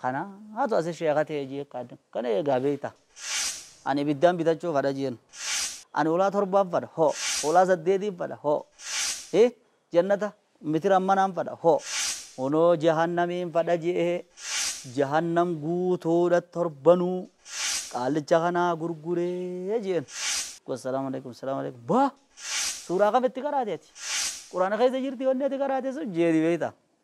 Kanaatu asi sheekha ta'e jee kadha. Kana eegaa beekta. Ani ibiddaan bitachuu kadha jeen. Ani hulaa torbaan fadha. Ho. Hulaa saddeetiin fadha. Ho. Hi. Jannata mitiran manaan fadha. Ho. Kunoo jahannamiin fadha je'e. Jahannam guutuudha torbanuu. Qaallicha kanaa gurguree jeen. Gosa salaamu alaikum salaamu alaikum. Ba! Suuraa kam itti qaraate ati? Quraana keessa jirti wanni ati qaraate sun jeeni beekta.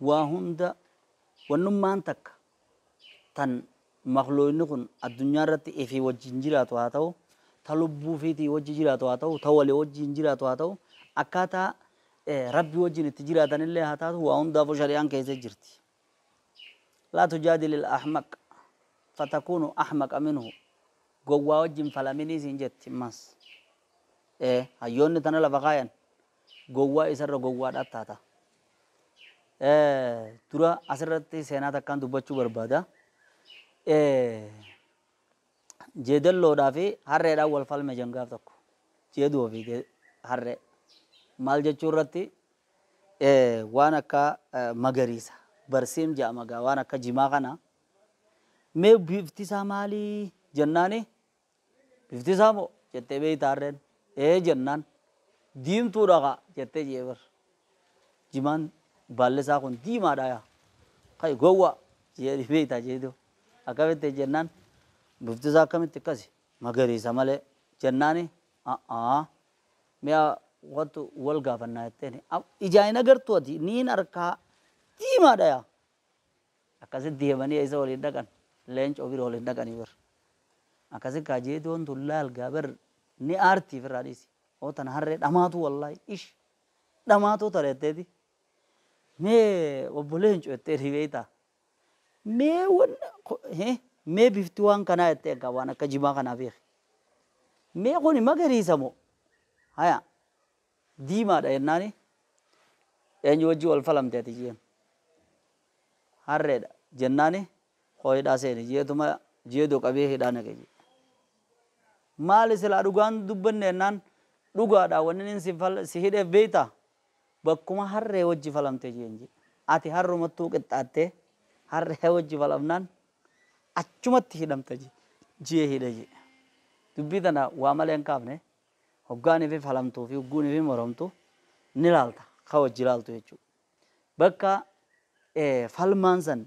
Waa hunda, wannummaan takka tan makluuynni kun addunyaarratti ifii wajjiin jiraatu haa tahu, ta lubbuu ifiitii wajji jiraatu haa tahu, ta walii wajjiin jiraatu haa tahu, akkaataa Rabbii wajjiin itti jiraatanillee haa taatu waa hundaafuu shari'aan keeysa jirti. Laa tujaadilil ahmaq fatakuunu ahmaqa minhu Gowwaa wajji hin falaminii siin jetti. Mas. Ee, hayyoonni tana lafa kaayan. gowwaa isarra gowwaadhaa taata. Dura asirratti seenaa takkaan dubbachuu barbaada. Jeedalloodhaa fi harreedhaan wal falme jan gaaf tokko. Jeedoo fi harree. Maal jechuu irratti waan akka magariisa barsiim jedhama gaa waan akka jimaa kana mee bifti isaa maalii jennaani Bifti isaa moo? jettee beektaa harreen. Ee jennaan. Diimtuu dha kaa! jettee Jeeber. Jimaan baalli isaa kun diimaa dha yaa! Ka'i gowwaa! jeedhii beektaa jeedoo. Akkamitti? jennaan. Bifti isaa akkamitti akkasi? Magariisa malee! jennaani. A'aa! Mi'a kottu wal gaafannaa jetteeni. Ijaan hin agartuu ati? Niin arkaa! Diimaa dha yaa! Akkasitti himanii eessa waliin dhaqan? Leencoo bira waliin dhaqanii bar. Akkasi kaa jeedoon tun laal gaa bar ni aartii firraa dhiisi. Oo tana harree dhamaatuu wallaahi ish dhamaatuu tana jetteeti. Mee obbo leencoo jettee ni beektaa? Mee wanna ko- he, mee bifti waan kanaa jettee egaa waan akka jimaa kanaa beeki. Mee kuni magariisa moo? Haya diimaa dha jennaani eenyu wajjin wal falamte ati je'een. Harree dha jennaani koo hidhaa seeni je'eetuma jeedoo qabee hidhaa naqe je'e. Maali silaa dhugaa hin dubbanne jennaan dhugaa dha wanni inni si fal si hidheef beektaa? Bakkuma harree wajji falamte je'een je'e. Ati harrumattuu qixxaattee harree wajji falamnaan achumatti hidhamta je'e je'ee hidhe je'e. Dubbii tana waa malee hin kaafne hoggaa nifi falamtuu fi hogguu nifi moromtu ni laalta ka wajji laaltu jechuu bakka falmaan san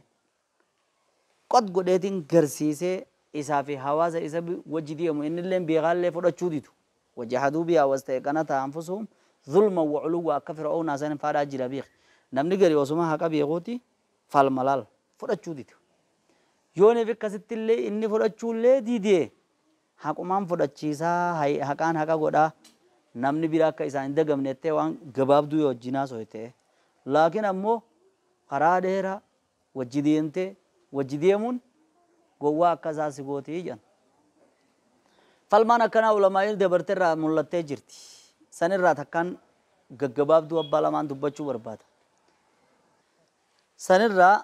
qot godheetiin garsiisee isaa fi hawaasa isa wajji deemu innilleen beekaallee fudhachuu didu wajahaduu biyaa wastayqanataa anfusuhum zulman wa uluwwa akka fir'awnaa san faadhaa jira beeki namni gari osuma haqa beekuuti falma laal fudhachuu didu yoo nifi akkasittillee inni fudhachuullee didee Haqumaan fudhachiisaa, hay, haqaan haqa godhaa, namni bira akka isaan hin dagamne jettee waan gabaabduu yoo wajjiin haasoyte, laakiin ammoo karaa dheeraa wajji deemtee wajji deemuun gowwaa akka isaa si gooti jedhan. Falmaan akkanaa ulamaa'iin dabarte irraa mullattee jirti. San irraa takkaan gaggabaabduu abbaa lamaan dubbachuu barbaada. San irraa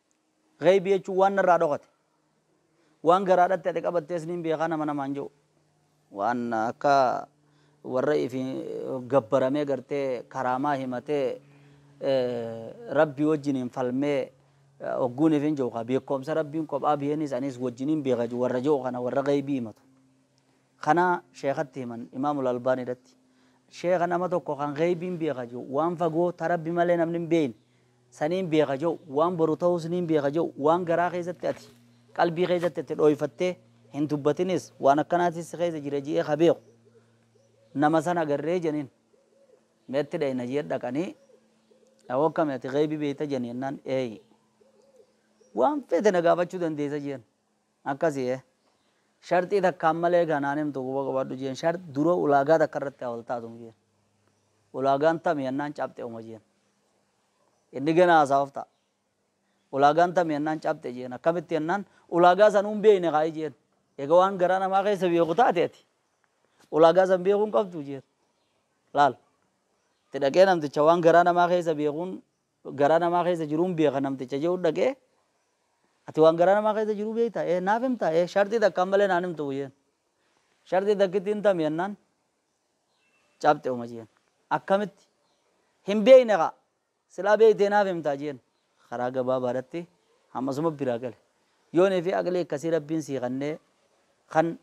Ghaybi jechuun waan narraa dhokate. Waan garaadhatti ati qabattees niin beekaa nama namaan je'u. Waan akka warra ifi gabbaramee gartee karaamaa himatee Rabbii wajjiniin falmee hogguun ifin je'u kaa beekkoomsa Rabbiin kophaa beeniis aniis wajjiniin beeka warra je'u kana warra ghaybii himatu. Kana sheekhatti himan, Imaamul Albaaniidhatti. Sheekha nama tokko kan gheeybiin beeka je'u, waan fagoo ta Rabbi malee namni hin beeyne, saniin beeka je'u, waan boru tahuus niin beeka je'u, waan garaa keessatti ati, qalbii keessatti ati dhooyfattee hin dubbatinis, waan akkanaatii si keessa jira je'ee ka beeku, nama san agarree je'aniin. Mee itti dhayna je'ee dhaqanii, Yaa wakkami ati gheeybii beeyta je'an jennaan, Eeyii. Waan feete na gaafachuu dandeessa je'an. Akkasi ee. Sharxii takkaan malee ka naan himtu quba qabaadhu jeen. Shart dura ulaagaa takka irratti haa wal taatun jeen. Ulaagaan tami jennaan caphxe uma jeen. Inni gana haasawaf ta'a. Ulaagaan tami jennaan caphxe jeen. Akkamitti jennaan ulaagaa sanuu hin beekne kaayi jeen. Eega waan garaa namaa keessa beeku taate ati ulaagaa san beekuu hin qabdu jeen. Laal. Itti dhaqee namticha waan garaa namaa keessa beekuun garaa namaa keessa jiruun beeka namticha je'uun dhaqee ati waan garaa namaa keessa jiruu beektaa? Ee naaf himtaa? Ee sharxii takkaan malee naan himtuu jeen. Sharxii takkittiin tami jennaan cabxe uma jeen. Akkamitti? Hin beekne kaa silaa beektee naaf himtaa jeen. Karaa gabaabaadhatti hammasuma biraa gale. Yoonii fi aqlii akkasii rabbiin sii kannee kan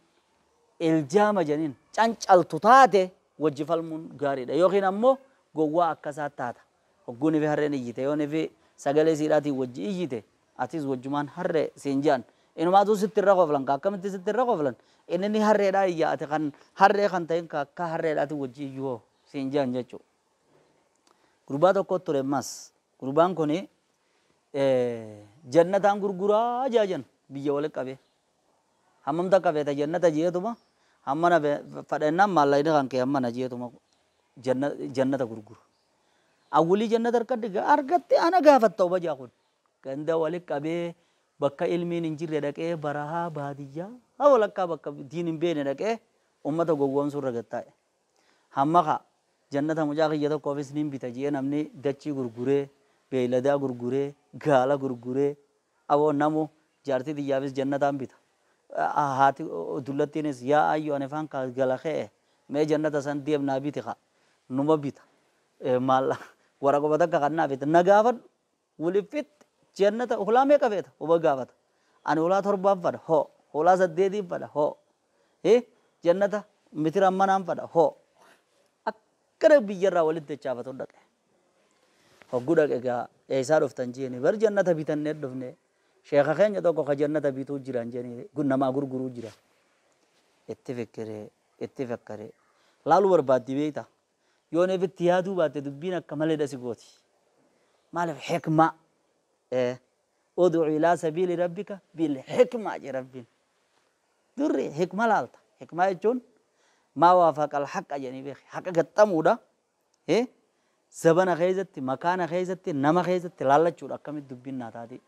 iljaama janiin cancaltu taate wajji falmuun gaariidha. Yookiin ammoo gowwaa akkasaa taata. Hogguu nifi harreen iyyite, yoo nifi sagalee siidhaatiin wajji iyyite, atis wajjumaan harree siin je'an. Inumaatuu sitti irra koflan ka akkamitti sitti irra koflan? Inni ni harreedhaa iyya, ati kan harree kan ta'in ka akka harreedhaatiin wajji iyyu hoo? siin je'an jechu. Gurbaa tokkoo ture ammaas. Gurbaan kuni jannataan gurguraa je'a jan biyya wali qabee. Hammam takka feeta jannata je'eetuma hammana fedha jennaan maallaqni kan kee hammana je'eetuma jannata gurgura. Awwulii jannata harkatti ga argatte ana gaafatta obajaa kun. Ganda wali qabee bakka ilmiin hin jirre dhaqee barahaa baadiyyaa ha walakkaa bakka diin hin beekne dhaqee ummata gowwoomsuu irra gad taa'e. Hamma kaa jannata mucaa kiyya tokkoofis nin bita je'ee namni dachii gurguree, beeyladaa gurguree, gaala gurguree, Aboo namu jaartii tiyyaafis jannataan bita. Haati dullattiinis yaa ayyu ani faan kaa gala ke'e mee jannata san deem naa biti kaa. Numa bita. Maalla waraquma takka kan naa bite na gaafadhu waliif fixxi jannata hulaa meeqa feeta huma gaafata. Ani hulaa torbaan fadha hoo hulaa saddeetiin fadha hoo hi jannata mitiraan manaan fadha hoo akkana biyyarraa walitti dachaafatuun dhaqe. Hoggu dhaqe gaa eeysaa dhuftan jeeni bar jannata bitanne dhufne sheekha keenya tokko ka jannata bituu jiran jeeni namaa gurguruu jira itti fikkire itti fakkare laaluu barbaaddi beeyta yoon efitti yaaduu baatte dubbiin akka malee dasi gooti maalif hikmaa ee ud'u ilaa sabiili rabbika bil hikmaa je rabbiin durri hikma laalta hikmaa jechuun maa waafaqa al haqqa jedhanii beeki haqa gaxxamuudha He, zabana keessatti, makaana keessatti, nama keessatti laallachuudha akkamitti dubbiin naa taatii.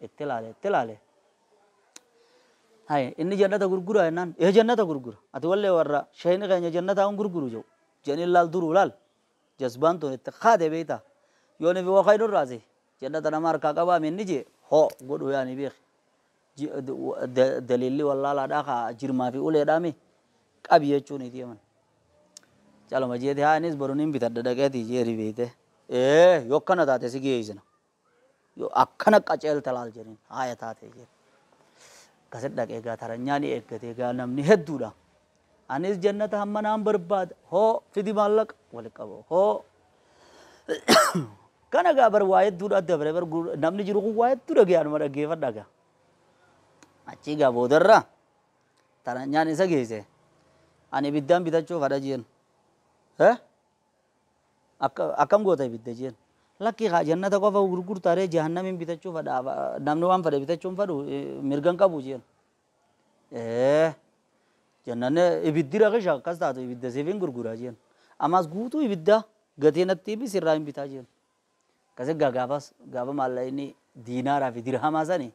Itti laale, itti laale. Haye, inni jannata gurguraa jennaan, ee jannata gurgura. Ati wallee warra sheeyni keenya jannataa hin gurguru jedhu. Jedhanii laal duruu laal. Jasbaan tun itti kaate beektaa. Yoonii fi waqaynu irraa si. Jannata nama harkaa qabaa minni jee hoo godhu yaanii beeki. Daliilli wallaalaadhaa kaa jirmaa fi uleedhaa mi? Qabi jechuun itii himan. Caluma jeeti haa anis boru nin bitadha dhaqeeti jeeri beeyte. Ee yoo akkana taate si geeysina. Yoo akkana qaceelte laal jedhin haaya taate jeeti. Akkasi dhaqee gaa taranyaa ni eeggate gaa namni hedduudha. Anis jannata hamma naan barbaada. Hoo fidi maallaqa wali qaba. Hoo kana gaa bar waa hedduudha dabre bar gur- namni jiru kun waa hedduu dhagee anuma dhaggeeffadha gaa. Achii gaa boodarra taranyaan isa geesse. Ani ibiddaan bitachuuf hadha jeen. Eh? Akka- Akkam goota ibidda jeen. Lakkii kaa jannata qofa gurgurtaaree jahannamiin bitachuuf hadha namni waan fedhe bitachuun fedhu eh, mirgan qabu jeen. Ee. Jennaan ibiddi rakisha akkas taatu ibidda siif hin gurgura jeen. Ammas guutuu ibidda gatii natti himi sirraa hin bitaa jeen. Akkasi gaa gaafas gaafa maallaqni diinaaraa fi dirhamaa sani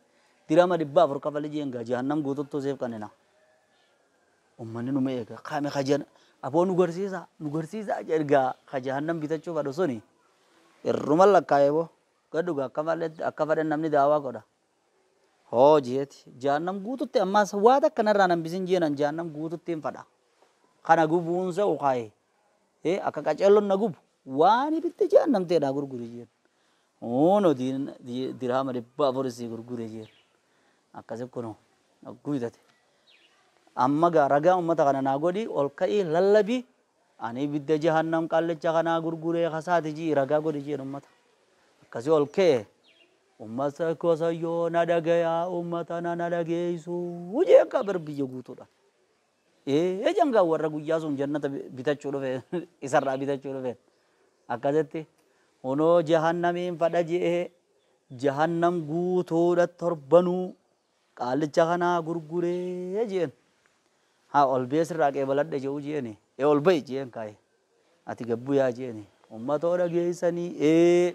dirhama dhibba afur kafali jeen gaa jahannam guututtuu siif kannina. Ummanni numa eega kaame kajan aboo nu garsiisa nu garsiisa jedhe gaa ka jahannam bitachuu fadhu suni irruma lakkaa'ee boo gadhu gaa akka malee akka fadhen namni daawaa godha. Hoo jeeti, Jahannam guututti ammaas waa takka narraa hin hambisin jeenan Jahannam guututtiin fadha. Kana gubuun se'u kaayee. Ee akka qaceellon na gubu waan ibidda Jahannam ta'e naa gurguri jeen. Huuno diin dirhaama dhibba afur isii gurgure jeen. Akkasi kunoo hogguu bitate. Amma gaa ragaa ummata kana naa godhi ol ka'ii lallabi ani ibidda Jahannam qallicha kanaa gurguree kasaati ji'i ragaa godhi jeen ummata. Akkasi ol ka'e. Ummata ko sayyoo na dhagayaa ummata na na dhageessuu jeen kaa bar biyya guutuudhaan. Ee jeen kaa warra guyyaa sun jannata bitachuu dhufe isarraa bitachuu dhufe akkasitti hunoo jahannamiin fadha je'ee jahannam guutuudha torbanuu qaallicha kanaa gurguree jeen haa ol bee sirraa qeebaladhe je'u jeeni ee ol ba'i jeen kaaye ati gabbuyaa jeeni ummatoo dhageessanii ee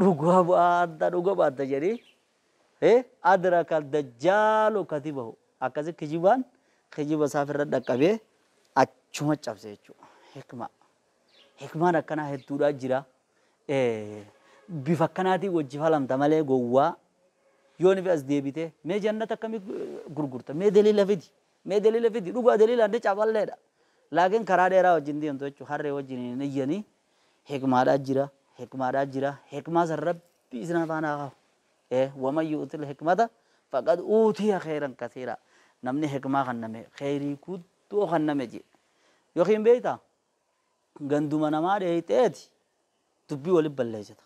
Dhuga baatta dhuga baatta jedhi e adraka dajjaalu katibahu akkasi kijibaan kijiba isaa firra dhaqqabee achuma cabse jechuu hikmaa hikmaan akkanaa hedduudhaa jira bifa akkanaatii wajji falamta malee gowwaa yoo nifi as deebite mee jannata akkami gurgurta mee daliila fidi mee daliila fidi dhugaa daliilaan ni caballeedha laakiin karaa dheeraa wajjin deemtu jechuu harree wajjin hin iyyanii Hikmaadhaa jira hikmaadhaa jira hikmaa san rabbi isin afaan haa kahu ee waman yu'util hikmata faqad uutiya kheyran kasiiraa namni hikmaa kanname kheyrii guddoo kanname jee yookiin beeyta ganduma namaa dheeyxeeti dubbii wali balleeysita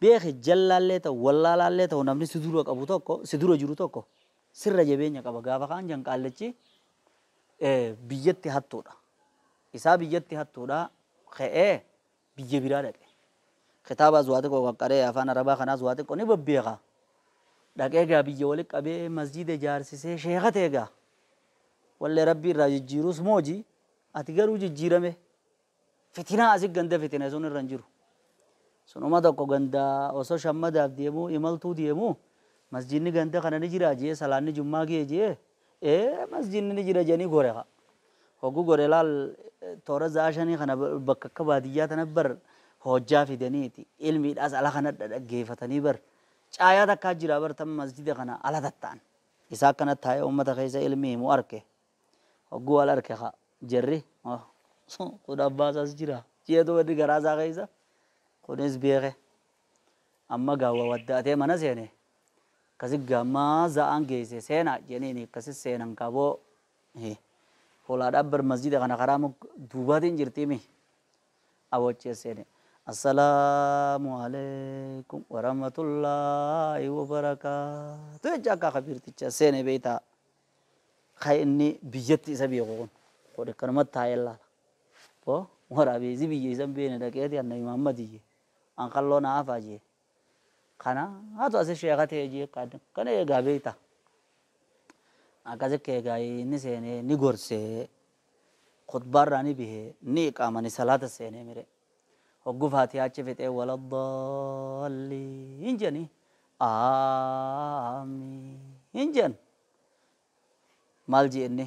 beeki jallaallee ta'u wallaalaallee ta'u namni si dura qabu tokko si dura jiru tokko sirra jabeenya qaba gaafa kaan jan qaallichi biyyatti hattuudha isaa biyyatti hattuudhaa ka'ee biyya biraa dhaqe. Kitaabaas waa xiqqoo qaqqaree afaan Arabaa kanaas waa xiqqoo ni babbeeka. Dhaqee egaa biyya walitti qabee masjiida ijaarsisee sheeka ta'e egaa. Wallee Rabbi irraa jijjiirus mooji ati garuu jijjiirame. Fitinaa asi ganda fitine sun irra hin jiru. Sunuma tokko ganda osoo shammadaaf deemuu imaltuu deemuu masjiidni ganda kana ni jiraa jee salaanni jummaa gee jee ee masjidni ni jira jedhanii gore kaa. Hogguu gore laal toora za'aa shanii kana bakka akka baadiyyaa tana bar hojjaa fidaniiti ilmiidhaas ala kana dhaggeeffatanii bar caayaa takkaa jira bar tan masjida kana ala tatta'an. Isaa akkana taa'ee ummata keessa ilmi himu arke. Hogguu wal arke kaa jarri kun abbaa isaas jira jeetu wanni garaa isaa keessa kunis beeke. Amma gaa wawadda'atee mana seene, Akkasi gaa amma za'aan geeyse seenaa jeniini akkasi seenan kaa boo hi Holaadhaa bar masjiida kana karaa muk duubaatiin jirtii mi Aboo achi as seene Assalaamu aleykum warahmatullaahi wabarakaatu jechaa kaa kabiirtichi as seene beeytaa ka inni biyyatti isa beeku kun kun akkanumatti taa'ee laala boo waraabeeysi biyya isa hin beeyne dhaqeeti annabi Muhammadiyye an kalloo naa hafaa jee kana hatu asi sheeka tee jee kan kana eegaa beekta akkasi keegaa inni seenee ni gorsee khutbaarraa ni bihee ni iqaama ni salaata seenee mire hoggu faatiyaa achi fixee wala daalliin janii aamiin jan maal jee inni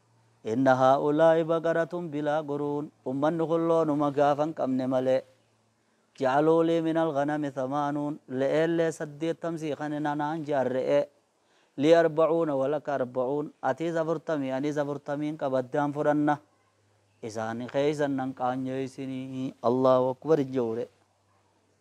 Inna haa'ulaa'i baqaratun bilaa guruun, ummanni kun loonuma gaafa hin qabne malee. Ja'aluu lii minal ghanami thamaanuun, le'eellee saddeettam sii kanina naan ja'an re'ee. Lii arba'uuna wa laka arba'uun, atiis afurtamii aniis afurtamiin qaba addaan fudhanna. Isaan keeysan nan qaanyeeysinii. Allaahu akbar hin ja'u re'e.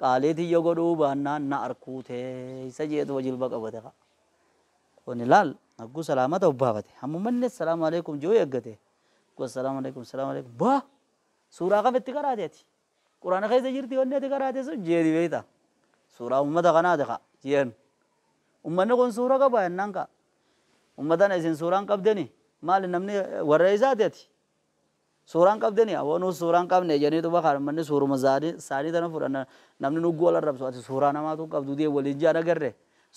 Qaalii tiyya godhuu baannaan na arkuu teessa jeetuma jilba qabate ka'a. Kuni laal hagguu salaamata obbaafate hammuma inni assalaamu aleekum je'uu eeggate hagguu assalaamu aleekum assalaamu aleekum baa suuraa kam itti qaraate ati quraana keessa jirti wanni ati qaraate sun jeeni beeyta suuraa ummata kanaati ka'a jeen ummanni kun suura qaba jennaan ka'a ummatana isin suuraan qabdeni maali namni warra eessaati ati Suuraa hin qabdeni aboo nuus suuraa hin qabne janiituma kaan ummanni suuruma saanii tana fudhanna namni nugguu wal arrabsu ati suuraa namaatuu hin qabdu diye waliin ja'an agarre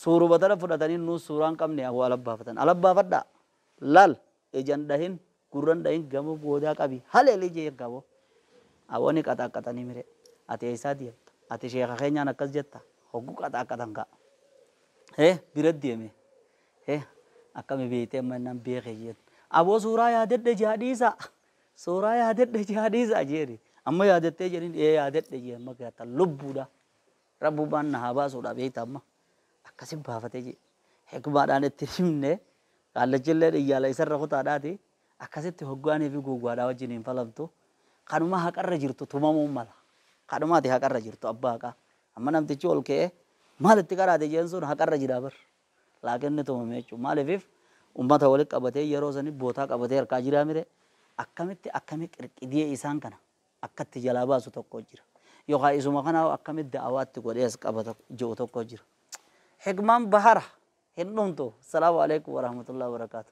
suuruma tana fudhatanii nuus suuraa hin qabne aboo ala baafatan ala baafadhaa laal ija hin dhahin gurra hin dhahin gamoo goodaa qabii haleeli ija yakka aboo aboo ni qaxaaqqaxanii mire ati eessaa deemta ati sheeka keenyaan akkas jetta hoggu qaxaaqqatan kaa ee bira deemee Hee akkami beeyte amma innaan beeke jeen aboo suuraa yaadadhe jaa dhiisaa suuraa yaadadhe jaa dhiisaa jeeni amma yaadattee jeniin ee yaadadhe jee amma gaata lubbuudha rabbumaan na haa baasuudha beeyta amma akkasi baafate jee hikmaadhaan itti himne kaallachillee dhiyyaala isarra kutaadhaati akkasitti hoggaanii fi gowwaadhaa wajjin hin falamtu kanuma haqarra jirtu tumamuun mala kanumaati haqarra jirtu abbaa haqaa amma namtichi ol ka'ee maal itti qaraate jeen sun haqarra jira bar Like inni tumame jechuun maalifif ummata wali qabatee yeroo sani bootaa qabatee harkaa jiraa mire akkamitti akkami qirqidiyee isaan kana akka itti jalaa baasu tokko jira yokaa isuma kanaahu akkami da'awaa itti godhee as qabata je'u tokko jira hikmaan bahara hin dhumtu assalaamu aleykum warahmatullahi wabarakaatu.